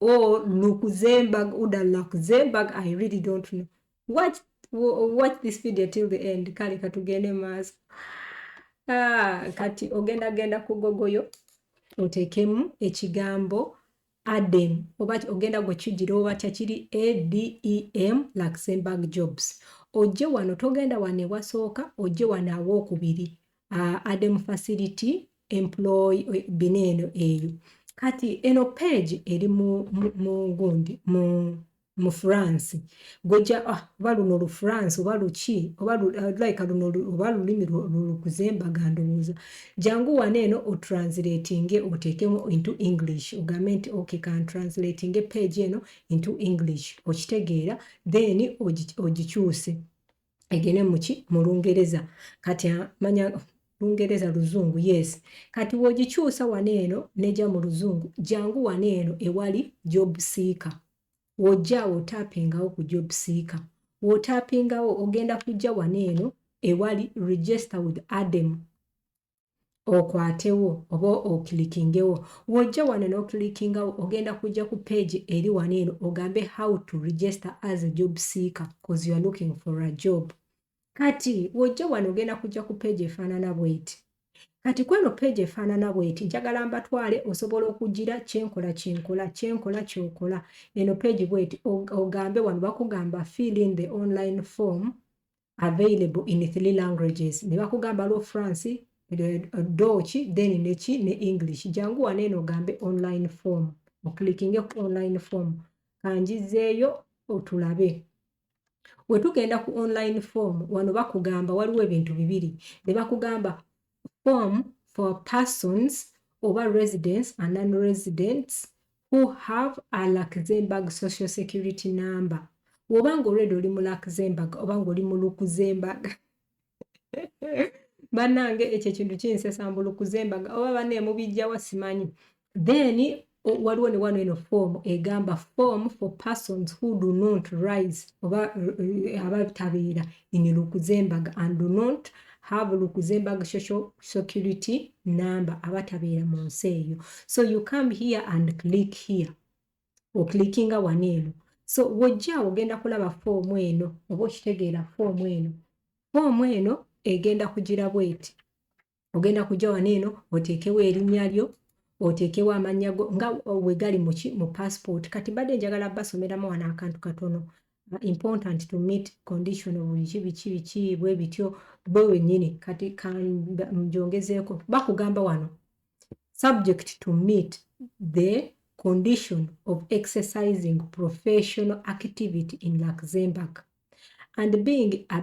or Luxembourg, Uda Luxembourg, I really don't know. Watch, watch this video till the end. Kale katugende maaso. Ah, kati ogenda genda ku gogoyo otekemu ekigambo adem oba ogenda gwe kijira oba kyakiri adem Luxembourg jobs. Oje wano togenda wano ewasooka oje wano awokubiri. uh, ademu facility employ bino eno eyo kati eno page eri mugundi mu, mu, mu france gweja ah, oba luno lu france oba luki oba uh, like luno oba lulimi lukuzembaga ndowooza jangu wano eno otranslatinge oteekemu into english ogambe nti ok kantranslatinge page eno into english okitegeera then ogikyuse egene muki mu lungereza kati manya lungereza luzungu yes kati wogikyusa wano eno neja mu luzungu jangu wano eno ewali job seeker wojjaawo otapingawo ku job seeker wotapingawo ogenda kujja wano eno ewali register with adem okwatewo oba okilikingewo wojja wano nokilikingawo ogenda kujja ku page eri wano eno ogambe how to register as a job seeker bcause youare looking for a job kati wojja wano ogenda kujja ku page efaanana bweti kati kweno page efaanana bweti njagala mbatwale osobola okugira kyenkola kyenkola kyenkola kyokola eno page bweti ogambe wano bakugamba fill in the online form available in three languages ne bakugamba lwo france doki then neki ne english jangu wano eno ogambe online form oklikinge ku online form kanjizeeyo otulabe wetugenda ku online form wano bakugamba waliwo ebintu bibiri ne bakugamba form for persons oba residents and non-residents who have a Luxembourg social security number woba nga already oli mu Luxembourg oba nga oli mu Luxembourg banange ekyo ekintu kinsesa mbu Luxembourg oba bane mubijjawa simanyi then waliwo ne wano eno form egamba form for persons who do not rise oba eh, abatabeera in lukuzembaga and do not have lukuzembaga social security number abatabeera mu nsi eyo so you come here and click here oklickinga wano eno so wojja ogenda kulaba foomu eno oba okitegeera foomu eno foomu eno egenda kugira bweti ogenda kujja wano eno oteekewo erinnya lyo oteekewo amannya go nga wegali muki mu passport kati mbadde njagala basomeramu wano akantu katono uh, important to meet condition of biki biki biki bwe bityo bwe wenyini kati kanjongezeeko bakugamba wano subject to meet the condition of exercising professional activity in luxembourg and being a,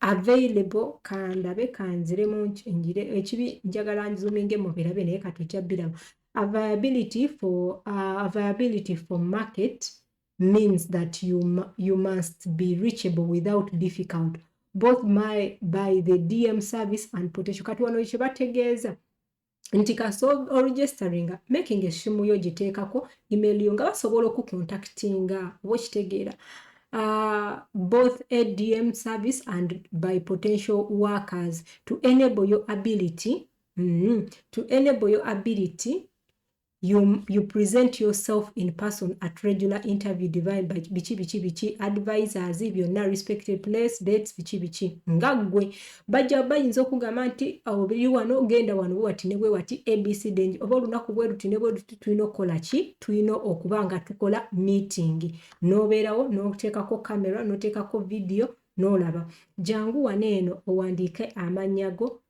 available kandabe kanzire mungi njire ekibi njagala nzuminge mubirabe naye katujja biramu availability for uh, availability for market means that you, you must be reachable without difficult both my, by the dm service and potential kati wano kyebategeeza nti kasa oregisteringa making esimu yo giteekako email yo nga basobola okukontaktinga oba okitegeera uh, both adm service and by potential workers to enable your ability mm -hmm, to enable your ability You, you present yourself in person at regular interview divine biki biki biki advisors byonna respected place dates biki biki nga ggwe bajja bayinza okugamba nti obiri oh, wano genda wano wati ne wati abc dange oba olunaku bwe luti ne bwe luti tulina okukola ki tulina okuba nga tukola meeting n'obeerawo n'oteekako kamera n'oteekako vidiyo n'olaba jangu wano eno owandiike amannya go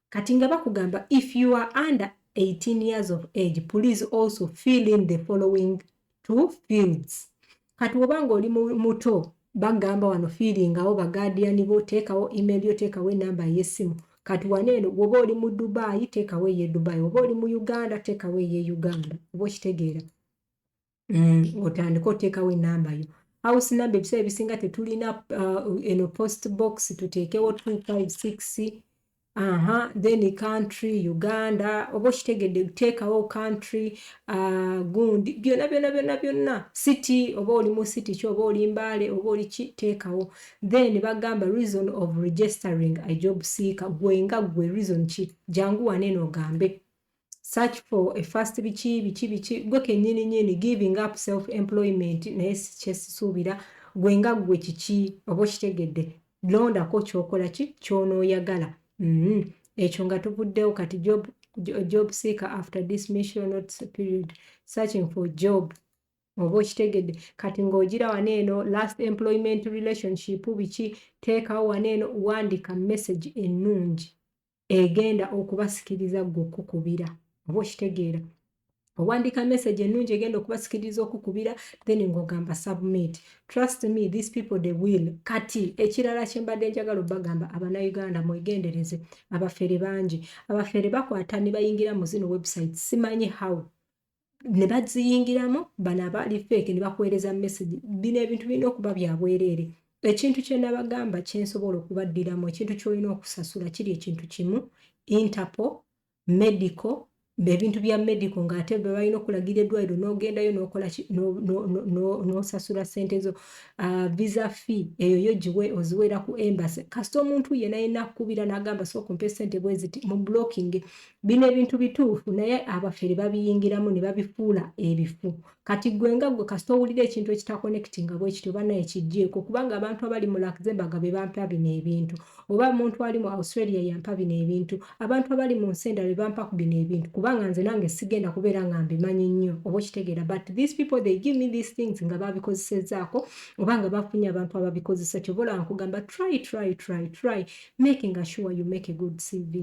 kati nga bakugamba if you are under 18 years of age please also fill in the following two fields kati woba nga oli muto bagamba wano fiiringawo bagaadiyani bo teekawo email yo teekawo enamba ey'essimu kati wano eno woba oli mu dubaayi teekawo eye dubaayi woba oli mu uganda teekawo eye uganda oba okitegeera mm, otandika oteekawo enamba yo house number ebiseera ebisinga tetulina uh, eno post box tuteekewo 256 aha then country uganda oba okitegedde teekawo country uh, gundi byonna byonna byonna byonna city oba oli mu city ki oba oli mbaale oba oli ki teekawo then bagamba reason of registering a job seeker gwe nga gwe reason ki jangu waneeno ogambe search for a first biki biki biki gwe kenyini nyini giving up self employment naye kyesisuubira gwe nga gwe kiki oba okitegedde londako kyokola ki kyonoyagala mm -hmm. ekyo nga tuvuddewo kati job, job seeker after this mission not period searching for job oba okitegedde kati ng'ogira wano eno last employment relationship biki teekawo wano eno wandika message ennungi egenda okubasikiriza ggwe okukubira oba okitegeera owandiika message ennungi egenda okubasikiriza okukubira then ng'ogamba submit trust me these people they will kati ekirala kyembadde njagala obagamba abanauganda mwegendereze abafere bangi abafere bakwata ne bayingira mu zino website simanyi how ne baziyingiramu bano abaali feeke ne bakuweereza message bino ebintu birina okuba bya bwereere ekintu kye nabagamba kye nsobola okubaddiramu ekintu ky'olina okusasula kiri ekintu kimu interpol medical ebintu bya medical ng'ate bwe balina okulagira eddwaliro n'ogendayo n'okola n'osasula ssente zo ah, visa fee eyo yo giwe oziweera ku embassy kasita omuntu yena yena akukubira n'agamba sooka ompe ssente bwe ziti mu blocking bino ebintu bituufu naye abafere babiyingiramu ne babifuula ebifu kati gwe nga gwe kasita owulira ekintu ekitakonekiti nga bwe kityo bana ekijjeeko kubanga abantu abali mu luxemburg be bampa bino ebintu oba omuntu ali mu australia yampa bino ebintu abantu abali mu nsi endala be bampa ku bino ebintu kubanga nze nange sigenda kubeera nga mbimanyi nnyo oba okitegeera but these people they give me these things nga babikozesezaako oba nga bafunye abantu ababikozesa kyobola nkugamba try try try try making assure you make a good cv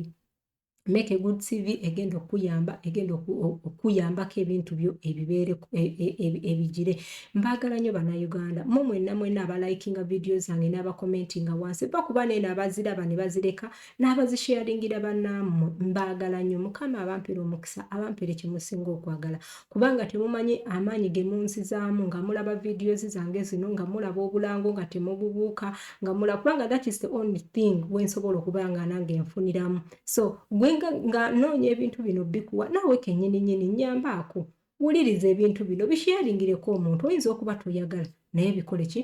make a good cv egenda okuyamba egenda okuyambako ebintu byo ebibeere e, e, e, ebigire mbagala nyo banauganda mu mwena mwena abalikinga vidiyo zange n'abakomentinga wansi ba kuba naye nabaziraba ne bazireka n'abazisharingira banammwe mbagala nyo mukama abampere omukisa abampere kyemusinga okwagala kubanga temumanyi amaanyi ge munzizaamu nga mulaba videos zange zino nga mulaba obulango nga temububuuka nga mulaba kubanga that is the only thing we nsobola okuba nga nange nfuniramu so gwe nga noonya ebintu bino bikuwa naawe kenyini nyini nyambaako wuliriza ebintu bino bisheyaringireko omuntu oyinza okuba toyagala naye bikole ki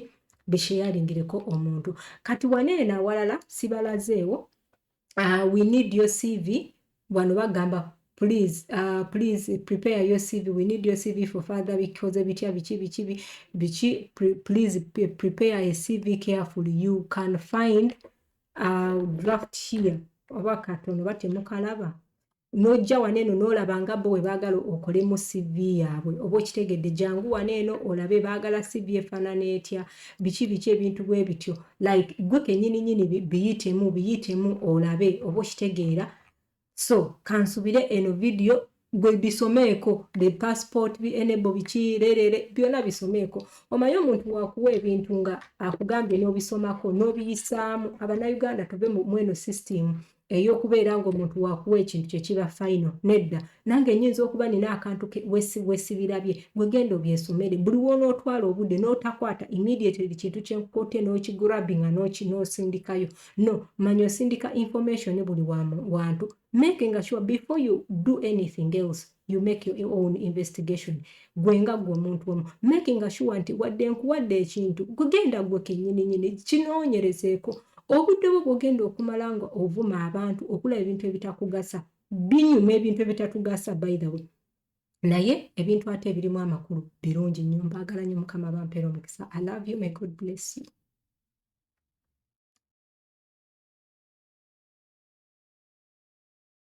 bisheyaringireko omuntu kati waneeno awalala sibalazeewo uh, we need your CV wano bagamba please uh, please prepare your CV we need your CV for further because bitya biki biki biki please prepare a CV carefully you can find a uh, draft here oba katono batemukalaba n'ojja wano eno n'olaba nga bo bwe baagala okolemu CV yaabwe oba okitegedde jangu wano eno olabe baagala CV efaanana etya biki biki ebintu bwe bityo like gwe kennyini nyini biyitemu biyitemu olabe oba okitegeera so kansubire eno vidiyo gwe bisomeeko the passport bi enebo biki leerere byonna bisomeeko omaye omuntu wakuwa ebintu nga akugambye n'obisomako n'obiyisaamu abannayuganda tuve mweno system eyokubeera nga omuntu wakuwa ekintu kyekiba final nedda nange nyinza okuba nina akantu wesibirabye gwegenda obyesomere buli wonootwala obudde notakwata immediately kintu kyenkukote nokigrabinga nosindikayo no manya osindika information buli wantu making sure before you do anything else you make your own investigation gwe nga gwe omuntu omu making sure nti wadde nkuwadde ekintu kugenda gwe kenyini nyini kinoonyerezeeko obudde bwo bwogenda okumala nga ovuma abantu okulaba ebintu ebitakugasa binyuma ebintu ebitatugasa by the way naye ebintu ate ebirimu amakulu birungi nnyo mbaagala nnyo mukama bampeera omukisa i love you may god bless you